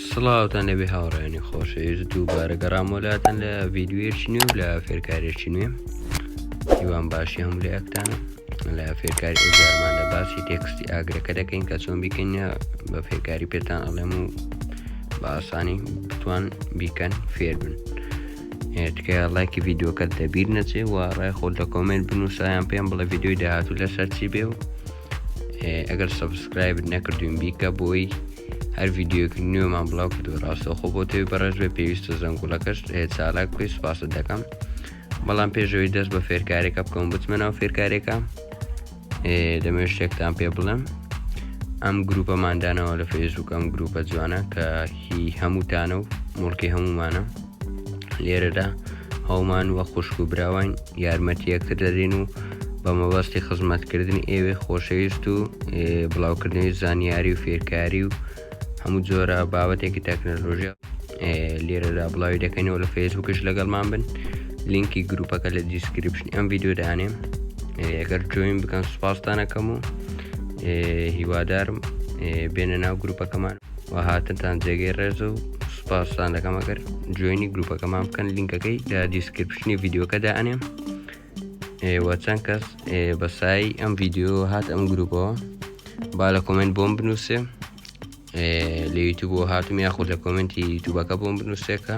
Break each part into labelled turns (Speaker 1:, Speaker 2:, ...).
Speaker 1: سڵاوتان لەبێ هاوڕێنی خۆشەویست دووبارە گەڕامۆ لاتەن لە ڤیددیوەیەکی نوێ و لە فێرکارێکی نوێ هیوان باشی هەم لەکتان لە فێرکاری ئەوزارمان لە باسی تێکستی ئاگرەکە دەکەین کە چۆن بیکەینە بە فێرکاری پێتان ئەڵێم و بە ئاسانی بتوان بیکەن فێربن تکە لایکی ڤیددیوکە دەبیر نەچێ و ڕای خۆ لە کۆمنت بنووسایان پێم بڵە ڤیددیوی داهاتوو لەسەر چی بێ و ئەگەر سەبسکرایبت نەکردوین بیکە بۆی هەر ڤیددیوک نوێمان بڵاو کردو ڕاستەوخۆ بۆ تێوی بەڕێز بێ پێویستە زەنگوڵەکەش چالاک بکەی سوپاست دەکەم بەڵام پێشەوەی دەست بە فێرکارێکە بکەم بچمە ناو فێرکارێکە دەمێ شتێکتان پێ بڵم ئەم گروپەماندانەوە لە فەیسبوک ئەم گروپە جوانە کە هی هەمووتانە و مڵکی هەمومانە لێرەدا هەومان وە خوشک و براوان یارمەتیەکتر دەدەین و بە مەبەستی خزمەتکردنی ئێوێ خۆشەویست و بڵاوکردنەوەی زانیاری و فێرکاری و هەموو جۆرە بابەتێکی تەکنەلۆژیا لێرەدا بڵاوی دەکەینەوە لە فەیسبوکش لەگەڵمان بن لینکی گروپەکە لە دیسکرپشن ئەم ڤیددیو دانێ ئەگەر جوین بکەن سوپاستانەکەم و هیوادارم بێنە ناو گروپەکەمان و هاتنتان جێگەی ڕێز و سوپاستان دەکەم ئەگەر جوێنی گروپەکەمان بکەن لینکەکەی لە دیسکرپشنی ڤیددیوکەدا ئەنێم ئێوە چەند کەس بەسایی ئەم ڤیددیو هات ئەم گروپەوە با لە کۆمنت بۆم بنووسێ لە یوتوب بۆ هاتم یاخود لە کۆمنتی یوتوبەکە بۆم بنووسێکە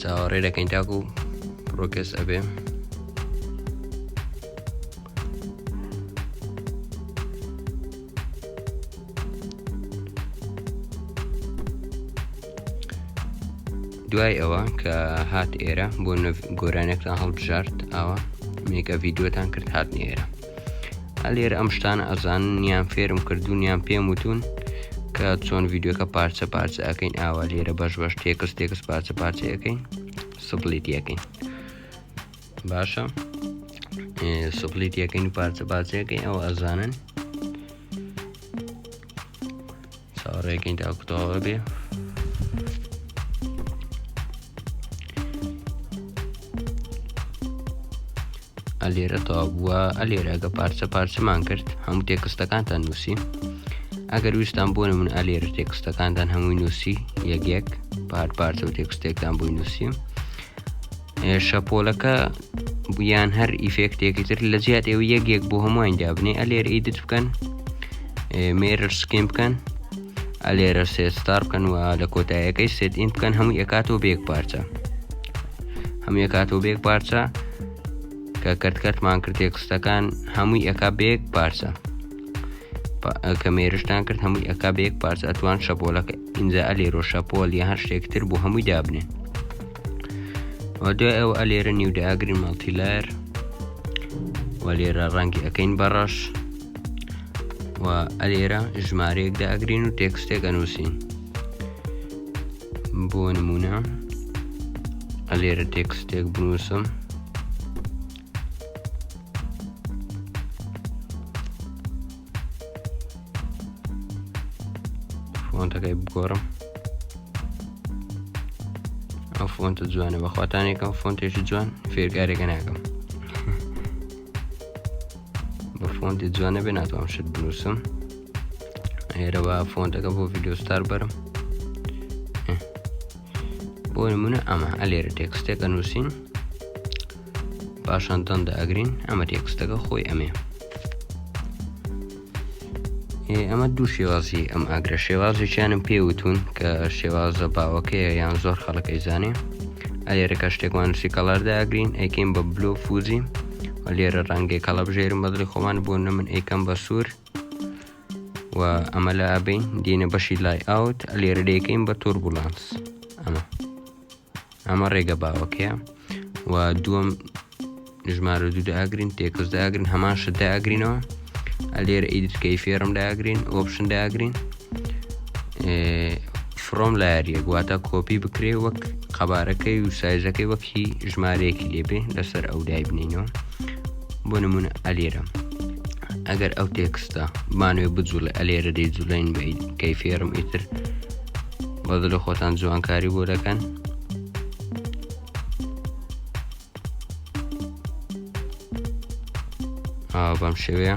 Speaker 1: چاوەڕێ دەکەین تاکو ڕۆکەس ئەبێ دوای ئەوە کە هات ئێرە بۆ گۆرانێکتان هەڵبژارد ئاوە مێکە ڤیددیوتان کرد هات نێرە ئەلێر ئەم شتانە ئەزان نیان فێرم کردوونیان پێم وتون کە چۆن ڤیددیوکە پارچە پارچە ئەەکەین ئاوا لێرە بەش بەش تێکس تێکس پارچە پارچە ئەەکەین سپلیت یەکەین باشە سپلیت یەکەین پارچە پارچەکەی ئەو ئەزانن چاوەڕێکەین تاکو تەواو ئەبێ ئەلێرە تەواو بووە ئەلێرەگە پارچە پارچەمان کرد هەموو تێکستەکانتان نووسی ئەگەر ویستان بۆ من ئەلێر تێکستەکانتان هەمووی نووسی یەکێک پار پارچە و تێکستێکتان بووی نووسیم شەپۆلەکە یان هەر ئیفێکتێکی تر لە جیات ئێوە یەکێک بۆ هەمووان دابنێ ئەلێر ئیدت بکەن مێرر سکیم بکەن ئەلێرە سێستار بکەن و لە کۆتایەکەی سێت ئین بکەن هەموو ئەکاتەوە بێک پارچە هەموو ئەکاتەوە بێک پارچە کە کەرتکەرتمان کرد تێکستەکان هەمووی ئەکا بێک پارچە کە مێرشتان کرد هەمووی ئەکا بێک پارچە ئەتوان شەپۆلەکە ئینجا ئەلێرۆ شەپۆل یا هەر شتێکتر بۆ هەمووی دابنێن و دوای ئەو ئەلێرە نیو داگرین مەڵتیلار و لێرە ڕەنگی ئەەکەین بەڕەش و ئەلێرە ژمارەیەک داگرین و تێکستێک ئەنووسین بۆ نمونە ئەلێرە تێکستێک بنووسم فۆنتەکەی بگۆڕم ئەو فۆنتە جوانە بەخواتانێکم فۆنتێکی جوان فێرگارێکە ناکەم بە فۆنتی جوانە بێ ناتوانم شت بنووسم هێرەوە فۆنتەکە بۆ ڤیددیۆستار بەرم بۆ نمونە ئەمە ئەلێرە تێکستێکە نووسین پاشان دان دەئەگرین ئەمە تێکستەکە خۆی ئەمێ ئەمە دوو شێوازی ئەم ئاگرە شێوازێکیانم پێوتون کە شێوازە باوەکەیە یان زۆر خەڵەکەی زانێ ئەلێرەکە شتێکمان نووسی کەڵاردا ئەگرین ئەیکەین بە بلو فوزی لێرە ڕەنگێک کەڵە بژێرم بەدڵی خۆمان بۆ نە من ئەیکەم بە سوور و ئەمە لە ئابین دینە بەشی لای ئاوت لێرە دەیکەین بە توربولانس ئەمە ئەمە ڕێگە باوەکەیە و دووەم ژمارە دوو داگرین تێکس داگرین هەمان شت داگرینەوە ئەلێر ئیدرکەی فێرم داگرین ئۆپشن داگرین فرۆم لایەریە گواتە کۆپی بکرێ وەک قەبارەکەی و سایزەکەی وەکی ژمارەیەکی لێبێ لەسەر ئەو دای بنینەوە بۆ نمونە ئەلێرە ئەگەر ئەو تێکستە بانوێ بجوڵێ ئەلێرە دەی جوڵین بی کەی فێرم ئیتر بە دڵی خۆتان جوانکاری بۆ دەکەن بەم شێوەیە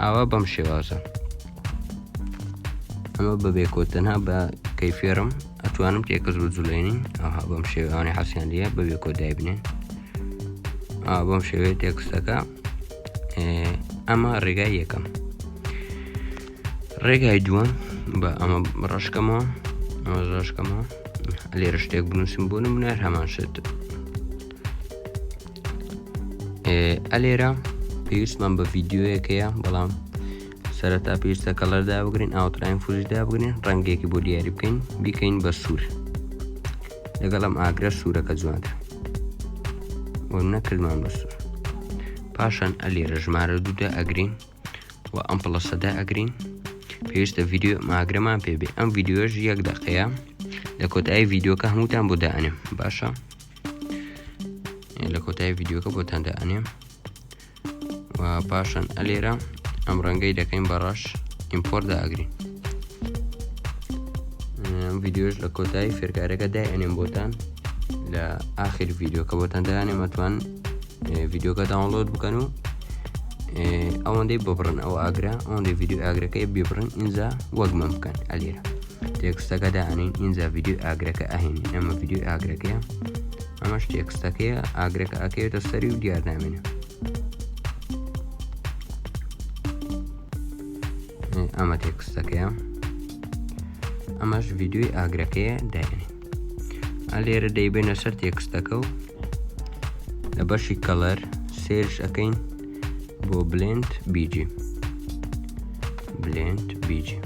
Speaker 1: ئاوا بەم شێوازە ئەمە بە بێکۆتەنها بە کەیفێرم ئەتوانم تێکەس بە جولێنین ئەها بەم شێوانەی حەسیان دیە بە بێکۆ دایبنێن بەم شێوێ تێکستەکە ئەمە ڕێگای یەکەم ڕێگای دووەم بە ئەمە ڕشکەمەوە ئەمە ڕشکەمەوە لێرە شتێک بنووسم بۆ نمونار هەمان شێت ئە لێرە پێویستمان بە ڤیددیوەکەیە بەڵام سەرەتا پێویستە کەڵەردا بگرین ئاوتراین فوشدا بگرین ڕەنگێکی بۆ دیاری بکەین بیکەین بە سوور لەگەڵم ئاگرە سوورەکە جوانتر بۆ نەکردمان بە سوور پاشان ئە لێرە ژمارە دوودا ئەگرین و ئەم پڵەسەدا ئەگرین پێویستە ڤیددیو ماگرەمان پێبێ ئەم ڤیددیوش یەک دەقەیە لە کۆتایی ڤیددیوکە هەمووتان بۆ دانێم باشە لە کۆتایی ڤیددیوکە بۆتان دەئەنێم و پاشان ئەلێرە ئەم ڕەنگەی دەکەین بەڕەش ئیمپۆر داگرین ڤیددیۆش لە کۆتایی فێرکارەکە دای ئەنێم بۆتان لە ئاخر ڤیددیوکە بۆتان دەیانێ مەتوان ڤیددیوکە داونلۆد بکەن و ئەوەندەی ببڕن ئەو ئاگرا ئەوەندەی ڤیددیو ئاگرەکەی ببڕن ئینجا وەک من بکەن ئەلێرە تێکستەکە دانین ئینجا ڤیددیوی ئاگرەکە ئەهێنین ئەمە ڤیددیوی ئاگرەکەیە ئەمەش تێکستەکەیە ئاگرەکە ئەکەوێتە سەری و دیارنامێنە ئەمە تێکستەکەیە ئەمەش ڤیددیوی ئاگرەکەیە داێنین لێرە دەیبێنە سەر تێکستەکە و لە بەشی کەڵەر سێرش ئەەکەین بۆ بلند بیجی بلند بیجی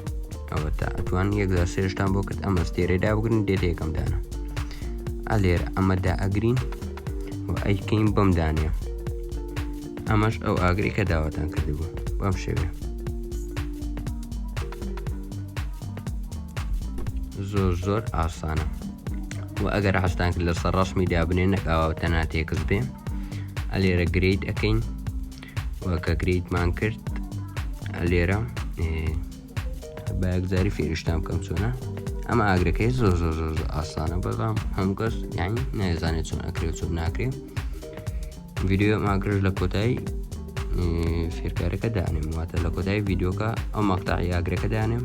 Speaker 1: ئەوە تا ئەتوان یەکدا سێشتان بۆ کرد ئەمە ستێرە دابگرن دێت یەکەم دانە ئەلێر ئەمەدا ئەگرین و ئەیکەین بەم دانێ ئەمەش ئەو ئاگری کە داواتان کردبوو بەم شێوێ زۆر زۆر ئاسانە و ئەگەر حستان کرد لەسەر ڕسمی دابنێ نەکاوە تەنا تێکس بێ ئەلێرە گریت ئەەکەین وەکە گریتمان کرد ئەلێرە بەگزاری فێرشتان بکەم چۆنە ئەمە ئاگرەکەی زۆر زۆر زۆر ئاسانە بەڵام هەم کەس یانی نایزانێت چۆن ئەکرێت چۆن ناکرێت ویددیو ماگرش لە کۆتایی فێرکارەکە دانێم واتە لە کۆتایی ویددیوکە ئەو مەقتا یاگرەکە دانێم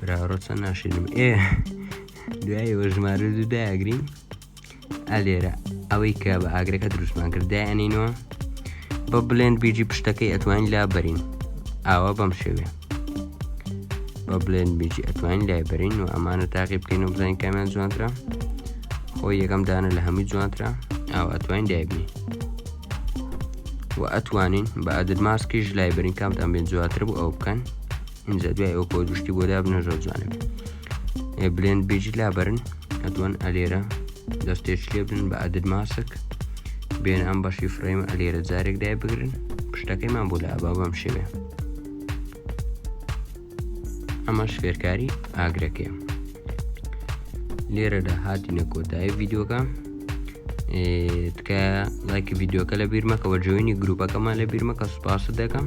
Speaker 1: براڕۆ چەند ناشرم ئێ دوایەوە ژمارە دوو داگرین ئەلێرە ئەوەی کە بە ئاگرەکە دروستمان کردایەنینەوە بە بلێن بیجی پشتەکەی ئەتوانین لا بەرین ئاوا بەم شێوێ بە بلێن بیجی ئەتوانین لای بەرین و ئەمانە تاقی بکەین و بزانین کامیان جوانترە خۆی یەکەم دانە لە هەمووی جوانترە ئاوا ئەتوانین دایبنی و ئەتوانین بە ئەدرماسکیش لای بەرین کامتان بێن جواتر بوو ئەو بکەن ئینجا دوای ئەو پۆز گشتی بۆ دابنە زۆر جوانم بلێن بێجی لابرن ئەتوان ئەلێرە دەستێش لێ بن بە ئەدت ماسک بێن ئەم بەشی فرەیمە ئەلێرە جارێک دای بگرن پشتەکەیمان بۆ لا با بەم شێوێ ئەمەش فێرکاری ئاگرەکەی لێرەدا هاتینە کۆتایی ڤیددیوکە تکایە لایکی ڤیددیوکە لە بیرمەکەەوە جوێنی گروپەکەمان لە بیرمەکە سوپاست دەکەم